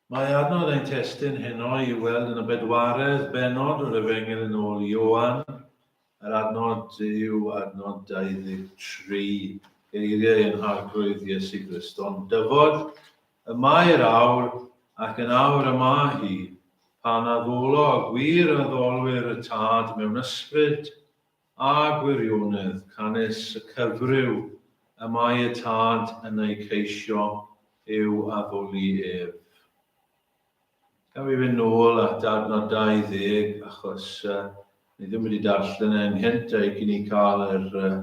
Mae adnodd ein testun heno i'w weld yn y bedwaredd bennod o'r Efengyl yn ôl Ioan. Yr adnod yw adnod 23, geiriau yn Arglwydd Iesu Griston dyfod, Y mae'r awr, ac yn awr y mae hi, pan addolo gwir addolwyr y Tad mewn ysbryd a gwirionedd canys y cyfryw y mae y Tad yn ei ceisio i'w addoli ef. Gaf fi fynd nôl at adnod 20, achos uh, ni ddim wedi darllen e'n hynt a'i gyn i cael yr uh,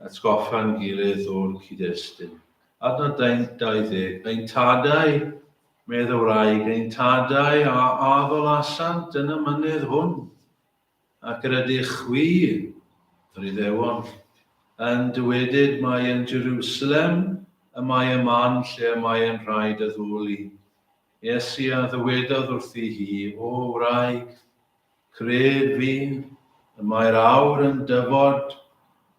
atgoffa'n gilydd o'r cyd-destun. Adnod 20, ein tadau, medd y wraig, ein tadau a addolasant yn y mynydd hwn, Ac yr ydych chwi, yr Iddewon, yn dywedyd mai yn Jerusalem y mae y man lle y mae yn rhaid addoli. Iesu a ddywedodd wrthi hi, O wraig, cred fi, y mae'r awr yn dyfod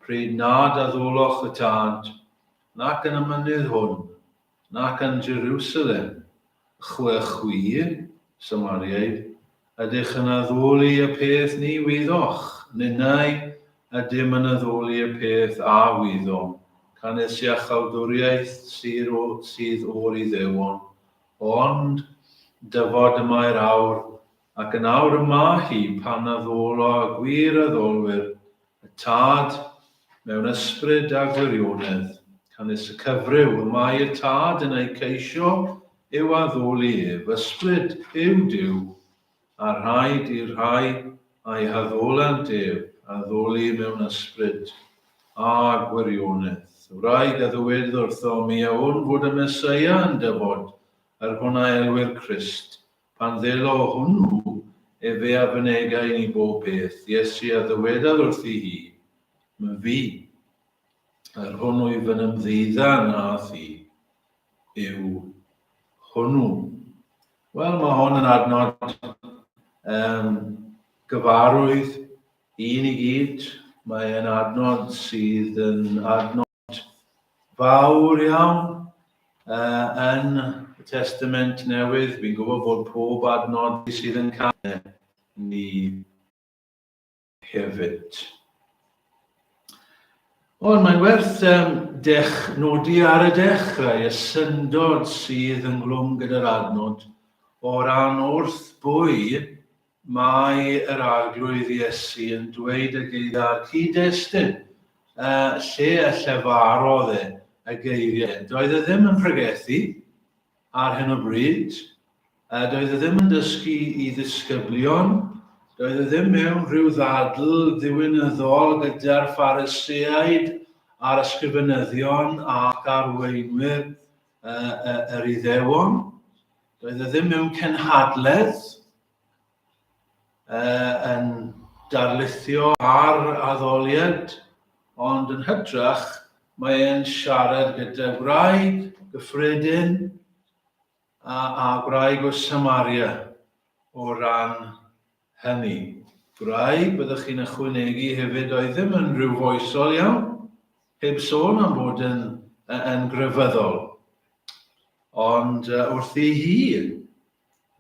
pryd nad addoloch y Tad, nac yn y mynydd hwn, Nac yn Jerusalem, chwe chwi, Samariaid, ydych yn addoli y peth ni wyddoch, ninnau, ydym yn addoli y peth a wyddom, canys iachawdwriaeth syr o, sydd o'r Iddewon. Ond, dyfod y mae'r awr, ac yn awr y mae hi, pan addolo y gwir addolwyr, Y Tad, mewn ysbryd a gwirionedd, canys y cyfryw y mae y Tad yn eu ceisio yw addoli ef, ysbryd yw Duw, a rhaid i'r rhai a'i haddolant ef addoli mewn ysbryd a gwirionedd. Wraig a ddywed wrtho, Mi a wn fod y Meseia yn dyfod, yr hwn a elwir Crist. Pan ddelo hwnnw efe a fynega i ni bob peth, Iesu a ddywedaf wrthi hi, Myfi, yr hwnnw i fy nymddeudda na thi, yw hwnnw. Wel, mae hwn yn adnod um, gyfarwydd i ni gyd. Mae'n adnod sydd yn adnod fawr iawn uh, yn y Testament Newydd. Fi'n gwybod bod pob adnod sydd yn cael ni hefyd. Ond mae'n werth um, dech, nodi ar y dechrau y syndod sydd ynghlwm gyda'r adnod o ran wrth bwy Mae yr Arglwydd Iesu yn dweud y geiriau'r cyd-destun, yy, lle a llefarodd e y geiriau. Doedd e ddim yn pregethu ar hyn o bryd, yy, doedd e ddim yn dysgu i ddisgyblion, doedd e ddim mewn rhyw ddadl ddiwinyddol gyda'r Phariseaid a'r ysgrifenyddion ac arweinwyr yy, yy, yr Iddewon. Doedd e ddim mewn cenhadledd uh, yn darlithio ar addoliad, ond yn hytrach mae e'n siarad gyda gwraig gyffredin a, a gwraig o Samaria o ran Hynny, gwraig, byddwch chi'n ychwanegu hefyd, doedd ddim yn rywfoesol iawn, heb sôn am fod yn, yn grefyddol. Ond wrth ei hi,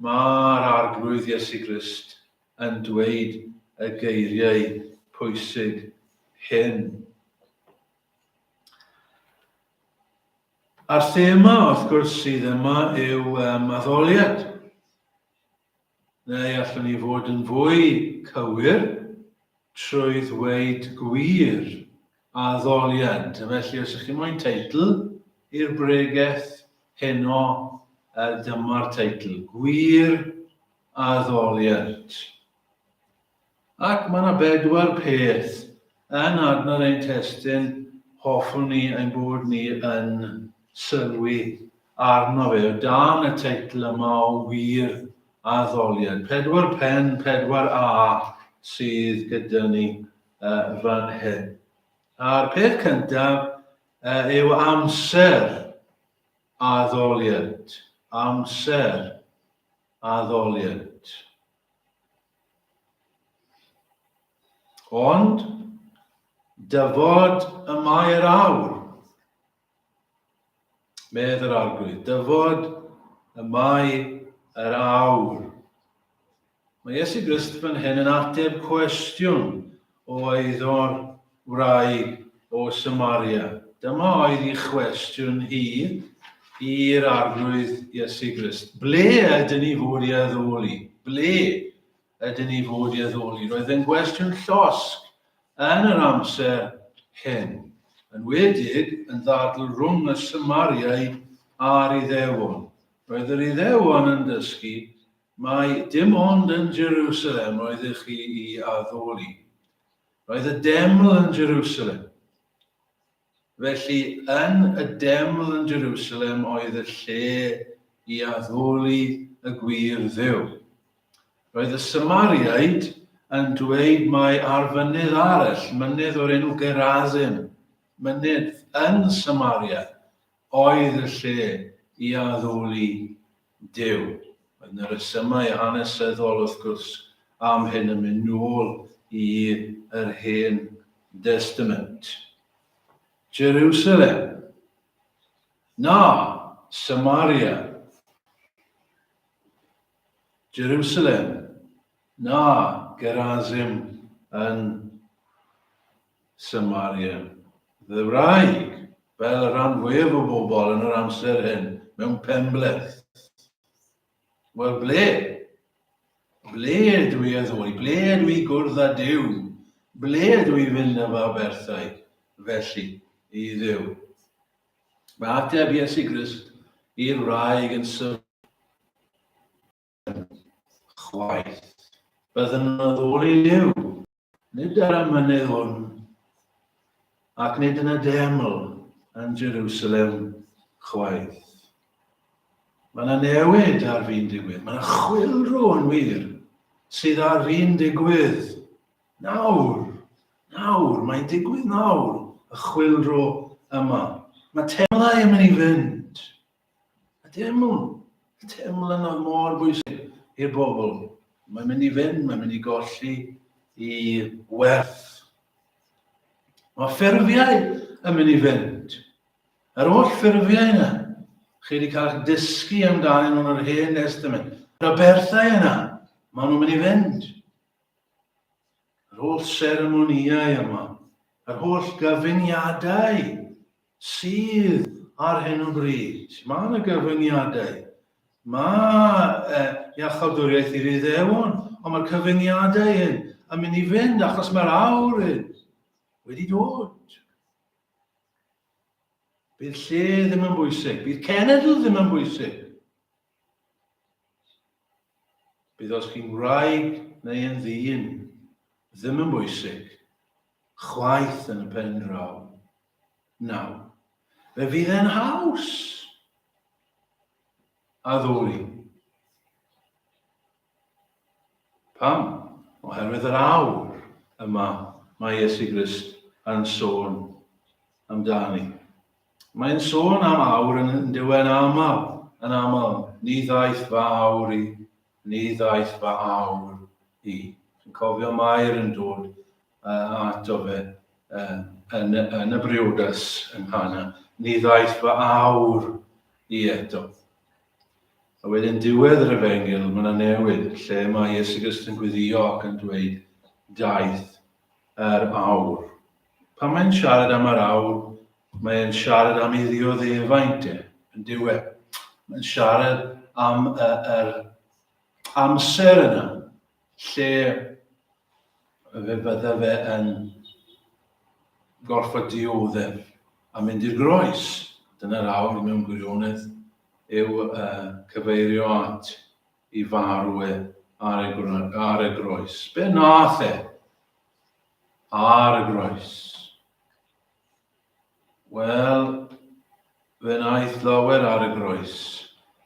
mae'r Arglwydd Iesu Grist yn dweud y geiriau pwysig hyn. A'r thema, wrth gwrs, sydd yma yw um, addoliad. Neu allwn ni fod yn fwy cywir trwy ddweud gwir, addoliad. Felly, os ych chi moyn teitl i'r bregeth heno, dyma'r teitl, Gwir Addoliad. Ac mae yna bedwar peth yn adnodd ein testun hoffwn ni ein bod ni yn sylwi arno fe o dan y teitl yma o wir addoliad. Pedwar pen, pedwar A sydd gyda ni fan hyn. A'r peth cyntaf yw amser addoliad. Amser addoliad. Ond, dyfod y mae'r awr, medd yr arglwydd, dyfod y mae yr awr. Mae Iesu Grist fan hyn yn ateb cwestiwn oedd o'r wraig o Samaria? Dyma oedd ei chwestiwn hi i'r Arglwydd Iesu Grist. Ble ydyn ni fod i addoli? Ble ydyn ni fod i addoli? Roedd yn gwestiwn llosg yn yr amser hyn, yn wedig yn ddadl rhwng y Samariaid a'r Iddewon. Roedd yr Iddewon yn dysgu Mai dim ond yn Jerusalem roeddech chi i addoli. Roedd y deml yn Jerusalem. Felly, yn y deml yn Jerusalem oedd y lle i addoli y gwir ddew. Roedd y Samariaid yn dweud mai ar fynydd arall, mynydd o'r enw Gerazim, mynydd yn Samaria, oedd y lle i addoli Duw. Oedd 'na resymau hanesyddol, wrth gwrs, am hyn yn mynd nôl i yr Hen Destament. Jerusalem. Na, Samaria. Jerusalem. Na, Gerazim yn Samaria. Ddyfraeg, fel y rhan fwyaf o bobl yn yr amser hyn, mewn penbleth. Wel, ble? Ble ydw i a ddwy? Ble ydw i gwrdd â Dyw? Ble ydw i fynd â fy aberthau, felly, i Ddyw? Mae ateb Iesu Grist i'r wraig yn syml. chwaith. Byddwn yn addoli Duw, nid ar y mynydd hwn, ac nid yn y deml yn Jerusalem chwaith. Mae yna newid ar fi'n digwydd. Mae yna chwilrw yn wir sydd ar fi'n digwydd. Nawr, nawr, mae'n digwydd nawr, y chwilrw yma. Mae temlau yn mynd i fynd. Y teiml, y teiml yna mor bwysig i'r bobl. Mae'n mynd i fynd, mae'n mynd i golli i werth. Mae ffurfiau yn mynd i fynd. Yr holl ffurfiau yna, chi wedi cael eich dysgu amdanyn nhw'n yr hen testament. Yr aberthau yna, maen nhw'n mynd i fynd. Yr holl seremonïau yma, yr holl gyfuniadau sydd ar hyn o bryd. Mae yna gyfyngiadau. Mae iachawdwriaeth i'r Iddewon, ond mae'r cyfyngiadau hyn yn mynd i fynd achos mae'r awr hyn wedi dod. Bydd lle ddim yn bwysig, bydd cenedl ddim yn bwysig. Bydd os chi'n wraig neu yn ddyn ddim yn bwysig, chwaith yn y pen draw. Naw, fe fydd e'n haws! A ddwy. Pam? Oherwydd yr awr yma mae Iesu Grist yn sôn amdani. Mae'n sôn am awr yn dyw'n aml, yn aml, ni ddaeth fy awr i, ni ddaeth fy awr i. Chi'n cofio Mair yn dod a ato fe yn, yn, yn y briodas yn Hana, ni ddaeth fy awr i eto. A wedyn diwedd yr efengil, mae yna newid lle mae Iesu Grist yn gwyddio ac yn dweud, daeth yr awr. Pan mae'n siarad am yr awr, mae'n siarad am ei ddioddefaint e, yn diwe. Mae'n siarad am yr amser yna, lle fe fydde fe yn gorfod dioddef a mynd i'r groes. Dyna'r awr mewn gwirionedd yw uh, cyfeirio at i farw e ar y, ar y groes. Be nath e? Ar y groes. Wel, fe wnaeth lawer ar y groes,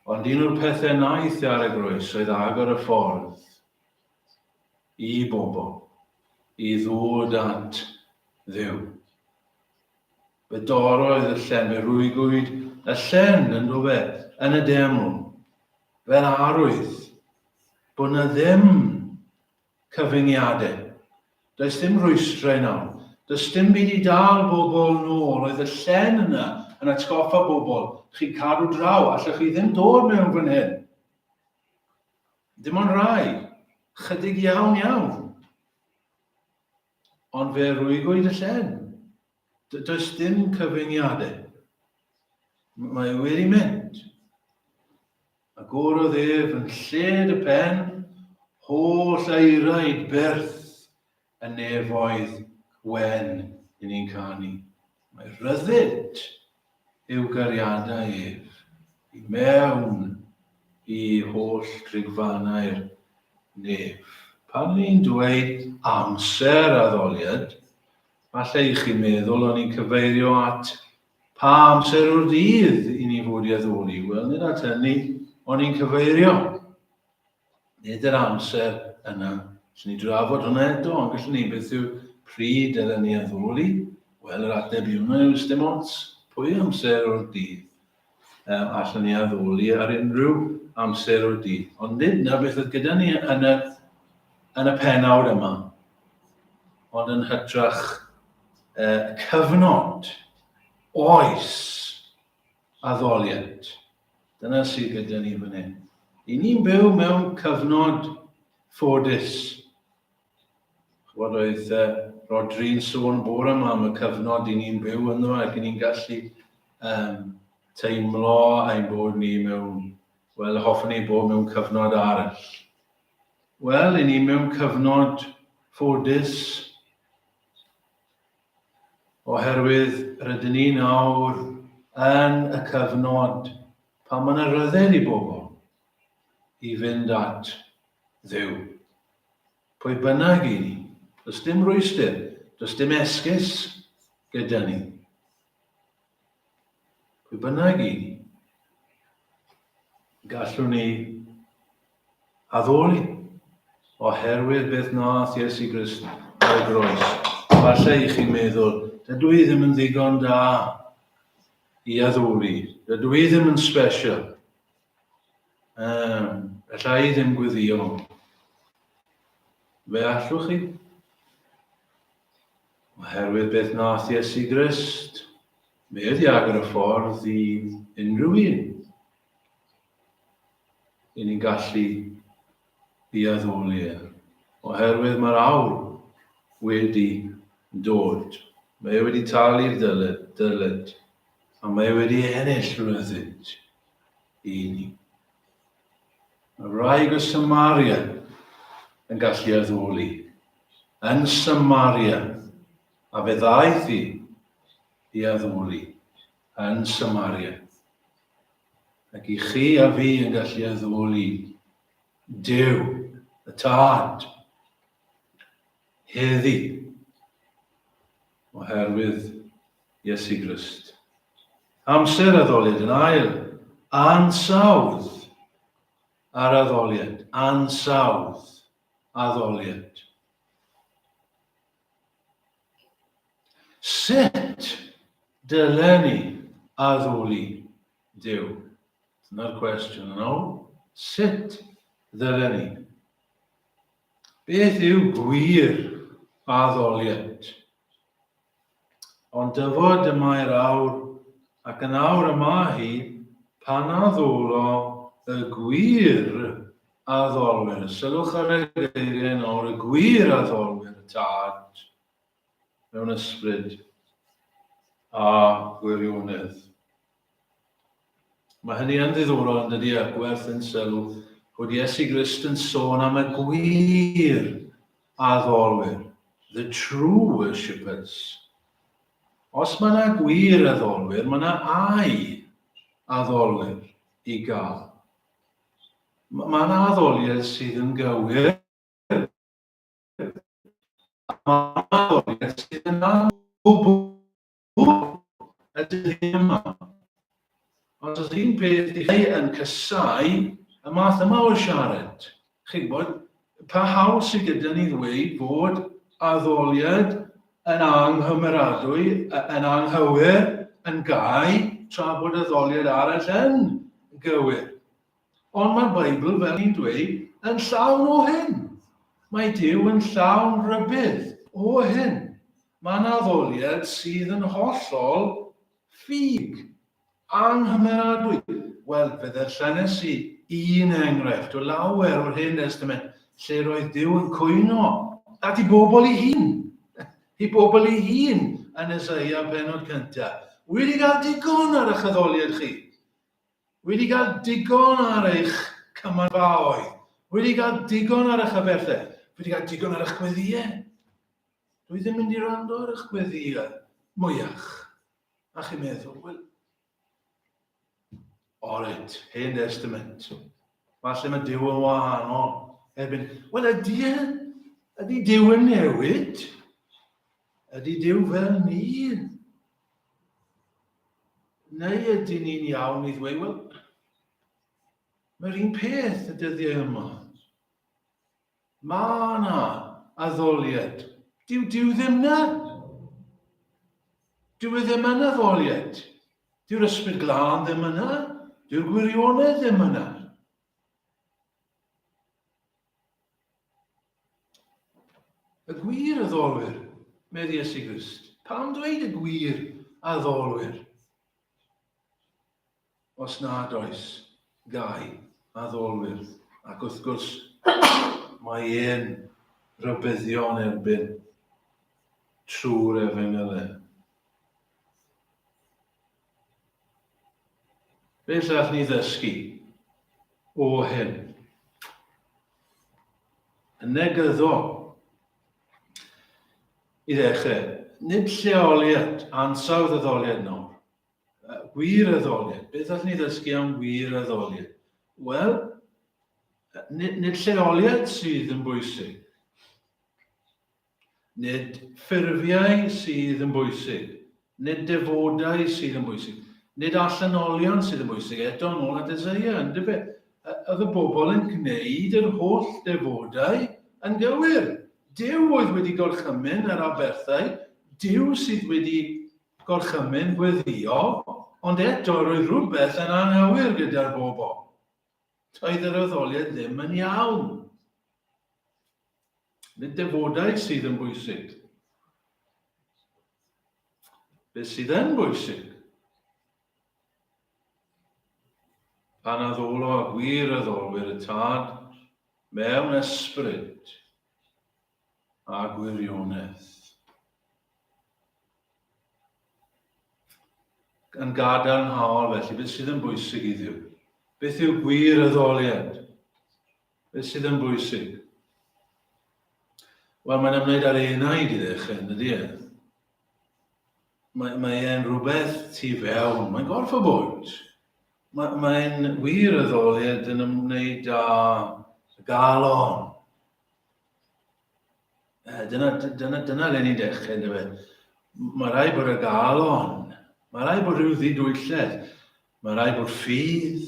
ond un o'r pethau wnaeth ar y groes oedd agor y ffordd i bobl i ddod at ddew. Fe doroedd y llen, fe rwygwyd y llen yn dofe yn y deml, fel arwydd bod na ddim Cyfyngiadau. Does dim rhwystrau nawr. Does dim byd i dal bobl nôl. Oedd y llen yna yn atgoffa bobl, chi'n cadw draw, allwch chi ddim dod mewn fan hyn. Dim ond rai. Chydig iawn iawn. Ond fe rwygwyd y llen. Does dim cyfyngiadau. Mae e wedi mynd. Agorodd ef yn lled y pen, holl aeraid berth y nefoedd wen i ni'n canu. Mae rhyddid eu gariadau ef i mewn i holl drigfannau'r nef. Pan ni'n dweud amser addoliad, falle i chi meddwl o'n i'n cyfeirio at pa amser o'r dydd i ni fod i addoli, wel nid at hynny o'n i'n cyfeirio. Nid yr amser yna. Gallwn ni drafod hwnna eto, ond gallwn ni, beth yw pryd yr ni addoli? Wel, yr ateb i hwnna yw dim ots pwy amser o'r dydd. Um, allwn ni addoli ar unrhyw amser o'r dydd. Ond nid na beth oedd gyda ni yn y, yn y penawd yma, ond yn hytrach uh, cyfnod, oes, addoliad. Dyna sydd gyda ni fan hyn. I ni'n byw mewn cyfnod ffodus. Chwod oedd uh, Rodri'n sôn bore yma am y cyfnod i ni'n byw ynddo ac i ni'n gallu um, teimlo ein bod ni mewn, wel, hoffwn ni bod mewn cyfnod arall. Wel, i ni mewn cyfnod ffodus, Oherwydd rydyn ni nawr yn y cyfnod pan mae yna ryddid i bobl i fynd at Dduw. Pwy bynnag i ni, does dim rwystr, does dim esgus gyda ni. Pwy bynnag i ni, gallwn ni addoli oherwydd beth nath Iesu Grist ar y groes. Falle i chi meddwl, dydw i ddim yn ddigon da i addoli, dydw i ddim yn special. Um, alla i ddim gwyddio. Fe allwch chi Oherwydd beth wnaeth Iesu Grist, mi oedd i agor y ffordd i unrhyw un. I ni'n gallu i addoli e. Oherwydd mae'r awr wedi dod. Mae e wedi talu'r dyled, dyled. A mae e wedi ennill rhywbeth i ni. Mae wraig o Samaria yn gallu addoli. Yn Samaria. A fe ddaeth i i addoli. Yn Samaria. Ac i chi a fi yn gallu addoli Dyw, y Tad, heddi, oherwydd Iesu Grist. Amser addoliad yn ail, ansawdd ar addoliad, ansawdd, addoliad. Sut dylen ni addoli Duw? Dyna'r cwestiwn yn ôl. Sut ddylen ni? Beth yw gwir addoliad? Ond dyfod y mae'r awr, ac yn awr y mae hi, pan a ddwlo y gwir a ddolwyr, sylwch ar y geiriau nawr, y gwir a ddolwyr y tad, mewn ysbryd a gwirionedd. Mae hynny yn ddiddorol yn dydy a gwerth yn sylw bod Iesu Grist yn sôn am y gwir addolwyr, the true worshippers. Os mae yna gwir addolwyr, mae yna ai addolwyr i gael. Mae yna addoliad sydd yn gywir, mae yna addoliad sydd yn anwybwyll. Hw ydy hi yma. Ond os un peth i chi yn casau y math yma o siarad, chi'n gwybod, pa hawl sydd gyda ni ddweud bod addoliad yn anghymeradwy, yn anghywir, yn gau, tra bod addoliad arall yn gywir? Ond mae'r Beibl, fel ni'n dweud, yn llawn o hyn. Mae Duw yn llawn rhybudd o hyn. Mae yna addoliad sydd yn hollol ffug, anghymeradwy. Wel, fe ddarllenes i un enghraifft o lawer o'r Hen Destament lle roedd Duw yn cwyno at ei bobl ei hun, ei bobl ei hun yn Eseia pennod cyntaf. Wedi cael digon ar eich addoliad chi? Wedi cael digon ar eich cymanfaoedd? Wedi cael digon ar eich aberthau? Wedi cael digon ar eich gweddïau? Dw i ddim mynd i rando ar eich gweddïau, mwyach, a chi'n meddwl, wel, Oret, hen testament. Falle mae Dyw yn wahanol. Erbyn, wel ydy e, ydy Dyw yn newid? Ydy Dyw fel ni? Neu ydy ni'n iawn i ddweud, wel, mae'r un peth y dyddiau yma. Mae yna addoliad. Dyw Dyw ddim na. Dyw e ddim yn addoliad. Dyw'r ysbryd glân ddim yna. Dyw'r gwirionedd ddim yna. Y gwir addolwyr, meddi Iesu Grist. Pam dweud y gwir addolwyr? Os nad oes, gai addolwyr, ac wrth gwrs, mae e'n rhybuddio'n erbyn trwy'r efengylen. Beth all ni ddysgu o hyn? Yn negyddol, i ddechrau, nid lleoliad ansawdd addoliad nawr Uh, gwireddoliad. Beth allwn ni ddysgu am gwireddoliad? Wel, nid, nid lleoliad sydd yn bwysig. Nid ffurfiau sydd yn bwysig. Nid defodau sydd yn bwysig. Nid allanolion sydd yn bwysig. Eto, yn ôl at Ezeia, yn dybe, oedd y bobl yn gwneud yr holl defodau yn gywir. Dyw oedd wedi gorchymyn yr aberthau, dyw sydd wedi Gorchymyn gweddïo, ond eto roedd rhywbeth yn anghywir gyda'r bobl. Doedd yr addoliad ddim yn iawn. Nid defodau sydd yn bwysig. Beth sydd yn bwysig? Pan addolo a gwir addolwyr y tad mewn ysbryd a gwirionedd. Yn gadarnhaol felly, beth sydd yn bwysig i Dduw? Beth yw gwir addoliad? Beth sydd yn bwysig? Wel, mae'n ymwneud â'r enaid i ddechrau, yn dydy e? Mae, mae e'n rhywbeth tu fewn, mae'n gorff o bwynt. Mae, mae'n wir y ddoliad yn ymwneud â galon. Eh, dyna, dyna, dyna le ni'n dechrau, ynddo fe. Mae rai bod y galon, mae rai bod rhyw ddidwylledd, mae rai bod ffydd.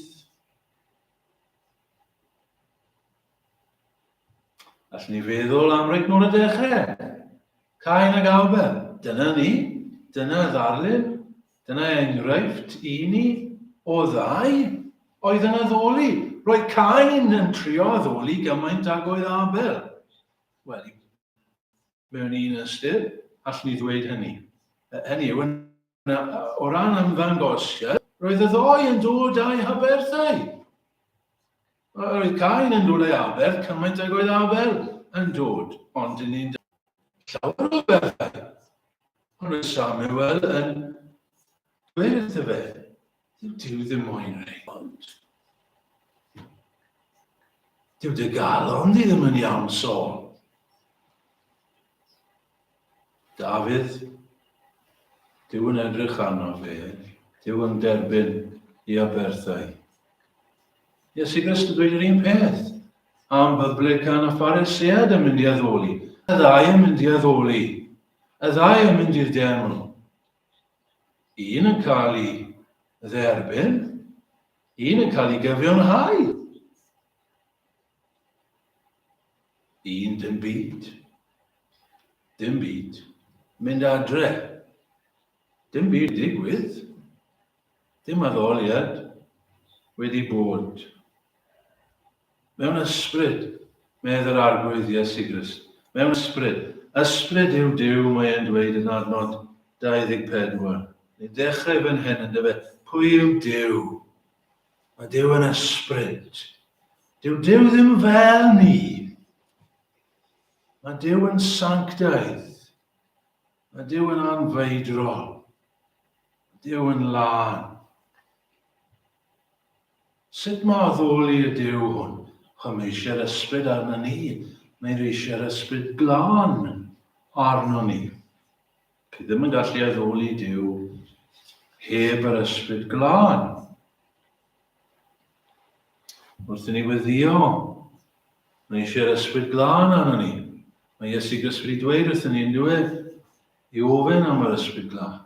Allwn ni feddwl am reit nôl y dechrau. Cain ag Abel, dyna ni, dyna ddarlun, Dyna enghraifft i ni o ddau oedd yn addoli. Roedd Cain yn trio addoli gymaint ag oedd Abel. Wel, mewn un ystyr, allwn ni ddweud hynny. Hynny yw, o ran ymddangosiad, roedd y ddoi yn dod â'i haberthau. Roedd Cain yn dod â'i aberth cymaint ag oedd Abel yn dod, ond yn un llawer o bethau. Ond roedd Samuel yn dweud wrtho fe, dyw Dyw ddim moyn rei, ond dyw dy galon di ddim yn iawn, Saul. Dafydd, Duw yn edrych arno fe, Duw yn derbyn i aberthau. Iesu Grist yn dweud yr un peth am byblican a pharesead yn mynd i addoli. Y ddau yn mynd i addoli. Y ddau yn mynd i'r deml. Un yn cael ei dderbyn, un yn cael ei gyfiawnhau. Un dim byd. Dim byd. Mynd adre. Dim byd digwydd. Dim addoliad wedi bod. Mewn ysbryd, medd yr arglwydd Iesu Grist. Mewn ysbryd. Ysbryd yw Dyw, mae e'n dweud yn adnod 24. Ni'n dechrau fan hyn, yn dyfe? Pwy yw Dyw? Mae Duw yn ysbryd. Dyw Duw ddim fel ni. Mae Duw yn sanctaidd. Mae Duw yn anfeidrol. Mae Duw yn lân. Sut mae addoli y Duw hwn? Chwa mae eisiau'r ysbryd arno ni. Mae eisiau'r ysbryd glân arno ni. Chi ddim yn gallu addoli Duw heb yr ysbryd glân. Wrth i ni weddio, mae eisiau'r ysbryd glân arno ni. Mae Iesu Gris wedi dweud wrth i ni yn diwedd i ofyn am yr ysbryd glân.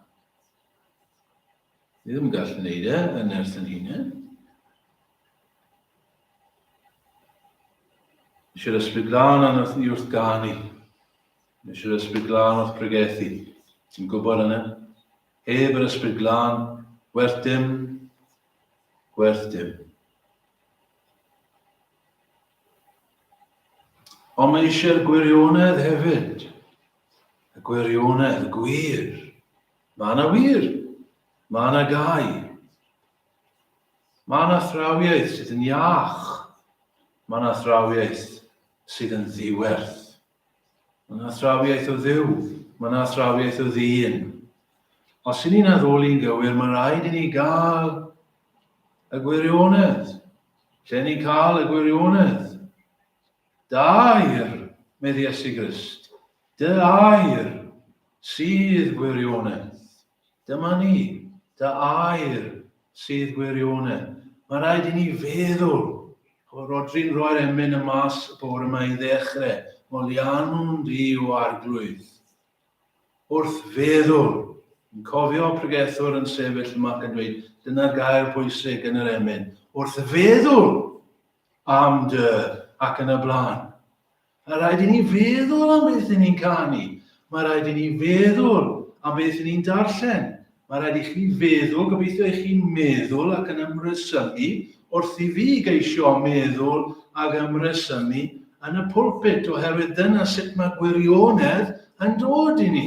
Ni ddim yn gallu gwneud e yn nerth yn hunain. Eisiau'r ysbryd glân arno ni wrth ganu. Nes yr Ysbryd Glân wrth bregethu. Ti'n gwybod hynny? Heb yr Ysbryd Glân, werth dim, werth dim. Ond mae eisiau'r gwirionedd hefyd. Y gwirionedd, y gwir. Mae yna wir. Mae yna gau. Mae yna thrawiaeth sydd yn iach. Mae yna thrawiaeth sydd yn ddiwerth. Mae yna athrawiaeth o Dduw, mae yna athrawiaeth o ddyn. Os i ni'n addoli'n gywir, mae rhaid i ni gael y gwirionedd. Lle ni'n cael y gwirionedd? Da air, medd Iesu Grist. Dy air sydd gwirionedd. Dyma ni, dy air sydd gwirionedd. Mae rhaid i ni feddwl. Rodri'n rhoi'r emyn y mas y bore yma i ddechrau. Molianwn di o arglwydd. Wrth feddwl, yn cofio pregethwr yn sefyll yma ac yn dweud, dyna'r gair pwysig yn yr emyn. Wrth feddwl! Am dy, ac yn y blaen. Mae rhaid i ni feddwl am beth i ni'n canu. Mae rhaid i ni feddwl am beth i ni'n darllen. Mae rhaid i chi feddwl, gobeithio i chi'n meddwl ac yn ymresymu wrth i fi geisio meddwl ac ymresymu yn y pulpit, oherwydd dyna sut mae gwirionedd yn dod i ni.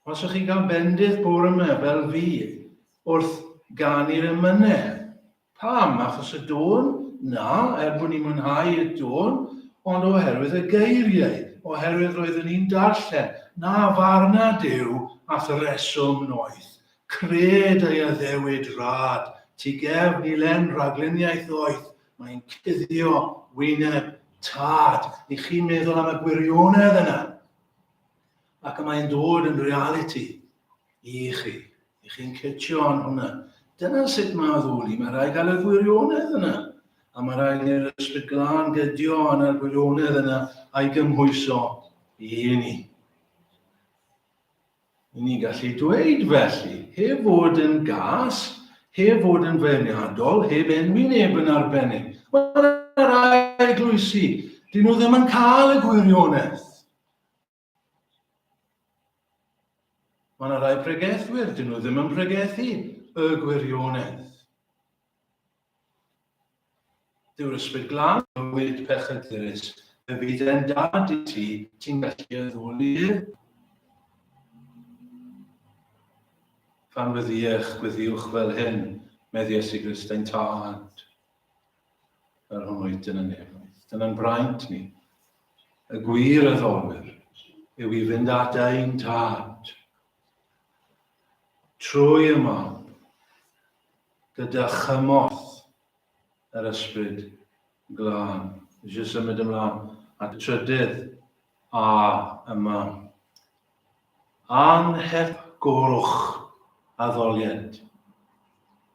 Os ych chi'n cael bendith bore yma, fel fi, wrth ganu'r emynedd. Pam? Achos y dôn? Na, er bod ni'n mwynhau y dôn, ond oherwydd y geiriau, oherwydd roeddwn ni'n darllen, na farna Duw at y reswm noeth, cred ei addewid rad, tu gefn i len ragluniaeth ddoeth, mae'n cuddio wyneb tad. I chi meddwl am y gwirionedd yna. Ac y mae'n dod yn realiti i chi. I chi'n cytio yn hwnna. Dyna sut mae addoli. Mae rhaid gael y gwirionedd yna. A mae rhaid i'r ysbryd glân gydio yn yr gwirionedd yna a'i gymhwyso i ni. I ni gallu dweud felly, heb fod yn gas, heb fod yn feirniadol, heb enwi neb yn arbennig. Mae'r rhai glwysi, dyn nhw ddim yn cael y gwirionedd. Mae yna rai pregethwyr, dyn nhw ddim yn pregethu y gwirionedd. Dyw'r ysbryd glân bywyd pechydurus, y byd e'n dad i ti, ti'n gallu y ddwl i hyn. Pan fyddiech, gwyddiwch fel hyn, meddies i Gristein tad. yr hwn oedyn yn nefoedd. Dyna'n braint ni. Y gwir a ddolwyr yw i fynd at ein tad. Trwy y mam, gyda chymorth yr ysbryd glân. Eisiau symud ymlaen at y trydydd a yma. Anhepgorwch addoliad.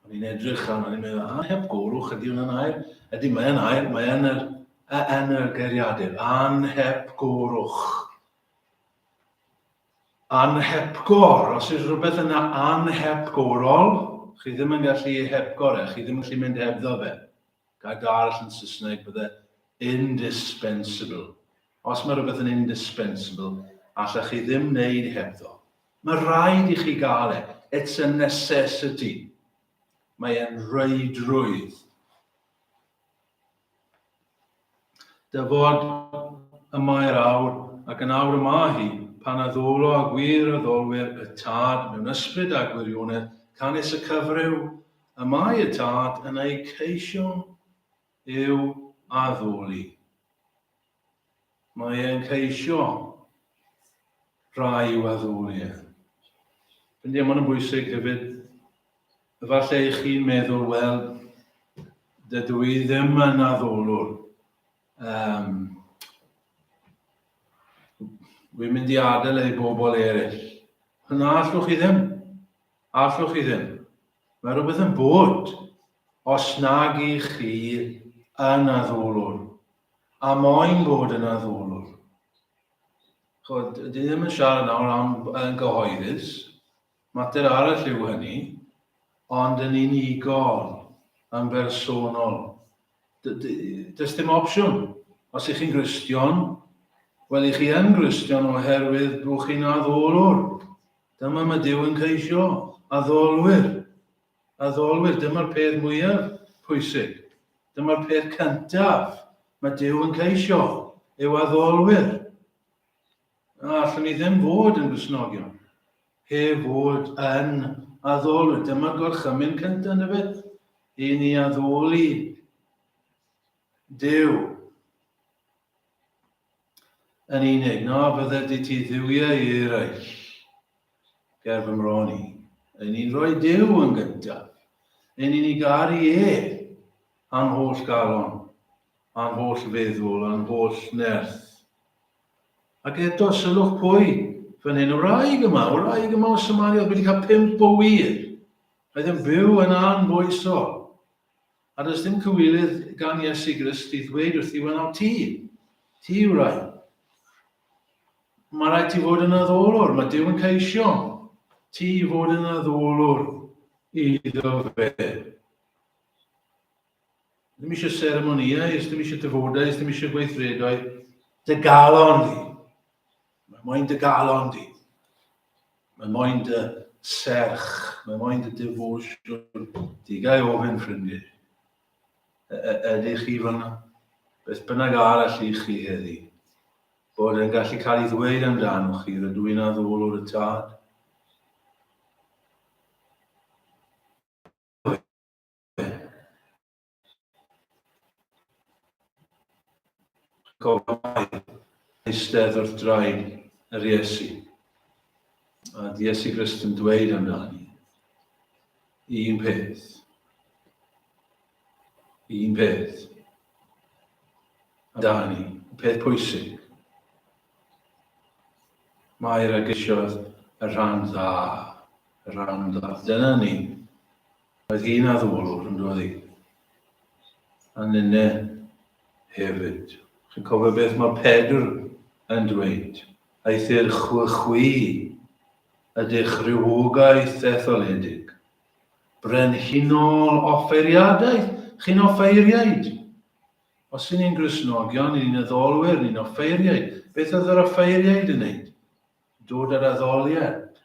O'n i'n edrych am, o'n i'n meddwl, anhepgorwch, ydy hwnna'n air? Ydy, mae'n air, mae'n yr, yn yr geiriadur. Anhepgorwch. Anhepgor, os yw'r rhywbeth yna anhepgorol, chi ddim yn gallu ei hepgor e, chi ddim yn gallu mynd hebddo fe. Gael darall yn Saesneg bydde indispensable. Os mae rhywbeth yn indispensable, allech chi ddim wneud hebddo. Mae rhaid i chi gael e. It's a necessity. Mae e'n reidrwydd. Dy fod y mae'r awr, ac yn awr y mae hi, pan a ddolo a gwir a ddolwyr y Tad mewn ysbryd a gwirionedd, canys y cyfryw y mae y Tad yn eu ceisio i'w addoli. Mae e'n ceisio rhai i'w addoli e. Felly mae hwn yn bwysig hefyd. Efallai eich chi'n meddwl, wel, dydw i ddim yn addolwr. Um, Wy'n mynd i adael ei bobl eraill. Yna allwch chi ddim. Allwch chi ddim. Mae rhywbeth yn bod Os nag i chi yn addolwr, a moyn bod yn addolwr. Chod, dwi ddim yn siarad nawr am yn gyhoeddus, mater arall yw hynny, ond yn unigol, yn bersonol. Does dim opsiwn. Os ych chi'n Gristion, wel, ych chi yn Gristion oherwydd bod chi'n addolwr. Dyma mae Dyw yn ceisio, addolwyr. Addolwyr, dyma'r peth mwyaf pwysig. Dyma'r peth cyntaf mae Duw yn ceisio, yw addolwyr. A allwn ni ddim fod yn gwisnogion heb fod yn addolwyr. Dyma'r gorchymyn cyntaf, na beth? I ni addoli Duw. Yn unig, na fyddet di ti dduwiau i eraill, ger fy mron i. Yn ni'n rhoi Duw yn gyntaf. Yn ni'n ei garu e, a'n holl galon, a'n holl feddwl, a'n holl nerth. Ac eto, sylwch pwy, fan hyn, y wraig yma, y wraig yma o Samaria, wedi cael pimp o wir. Roedd yn byw yn anfoesol. A does dim cywilydd gan Iesu Grist i ddweud wrth Iwan am ti. Ti yw rai. Mae rhaid ti fod yn addolwr, mae Dyw yn ceisio ti i fod yn addolwr iddo fe. Ddim eisiau seremoniau, ddim eisiau dyfodau, ddim eisiau gweithredoedd, dy galon di. Mae moyn dy galon di. Mae moyn dy serch. Mae moyn dy devotion di. Gai ofyn, ffrindiau, ydych chi fanna? Beth bynnag arall i chi heddi? Bod yn gallu cael ei ddweud amdanoch chi, rydw i'n addolwr y tad. Gofai eistedd wrth draed yr Iesu. A Iesu Grist yn dweud amdani, un peth, un peth, amdani, y peth pwysig. Mae'r agysiodd y rhan dda, y rhan dda. Dyna ni. Roedd hi'n addolwg yn doedd hi? A ninne hefyd. Chi'n cofio beth mae Pedr yn dweud? Eithr chwe chwi ydych rhywogaeth etholedig, brenhinol offeiriadaeth, chi'n offeiriaid. Os y'n ni'n Gristnogion, y'n ni'n addolwyr, ni'n offeiriaid. Beth oedd yr offeiriaid yn neud? Dod yr addoliad.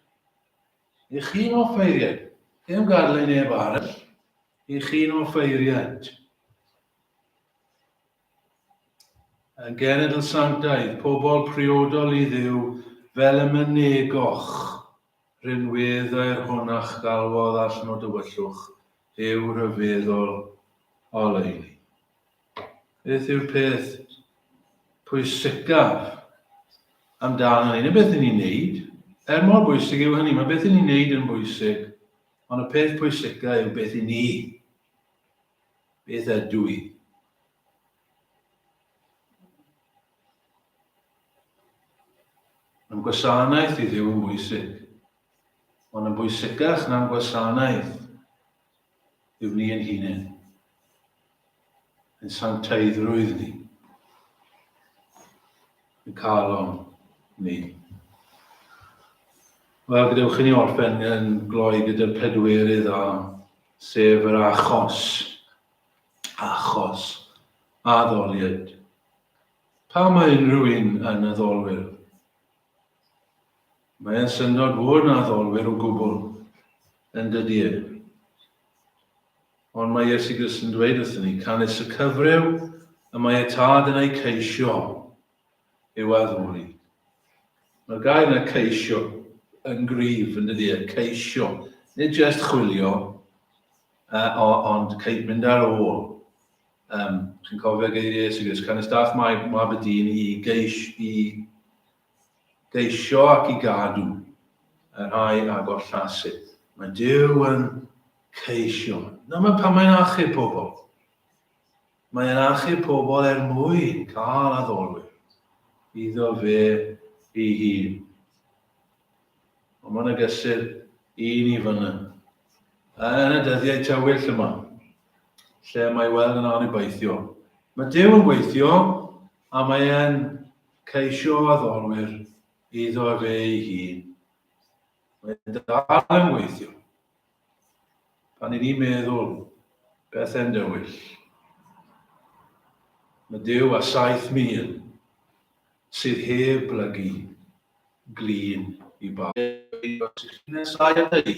Eich hun offeiriad. Ddim gadle i neb arall. Eich hun offeiriad. Yn genedl sanctaidd, pobl priodol i ddiw, fel y mynegoch, rinweddau'r hwn a'ch galwodd all nod dywyllwch, yw rhyfeddol oleuni. Beth yw'r peth pwysicaf amdano hyn? Y beth yn ni'n neud, er mor bwysig yw hynny, mae beth yn ni'n neud yn bwysig, ond y peth pwysicaf yw beth yn ni. Beth ydw i? Mae'n gwasanaeth i ddiw yn bwysig, ond yn bwysicach na'n gwasanaeth yw ni yn hunain, yn sanctaiddrwydd ni, yn calon ni. Wel, gadewch i ni orffen yn gloi gyda'r pedwerydd a sef yr achos. Achos. Addoliad. Pa mae unrhyw un yn addolwyr? Mae'n syndod fwy na addolwyr o gwbl, yn dydy e? Ond mae Iesu Grist yn dweud wrthyn ni, canys y cyfryw y mae y tad yn ei ceisio yw addoli. Mae'r gair yna ceisio yn grif, yn dydy e, ceisio. Nid jyst chwilio, uh, ond ceid mynd ar ôl. Um, chi'n cofio geiriau Iesu Grist, canys dath mae mab y dyn i geis i geisio ac i gadw, y rhai a gollasydd. Mae Duw yn ceisio. Dyma pan mae'n achub pobl. Mae'n achub pobl er mwyn cael addolwyr iddo fe ei hun. Ond mae'n agysur i ni fyny. Yn y dyddiau tywyll yma, lle mae weld yn anobaithio. Mae Duw yn gweithio, A mae e'n ceisio addolwyr iddo efe ei hun. Mae'n dal yn gweithio. Pan i ni'n meddwl pethe'n dywyll, mae Duw a 7,000 sydd heb blygu glin i bawb. Os ych chi'n nesáu ata i,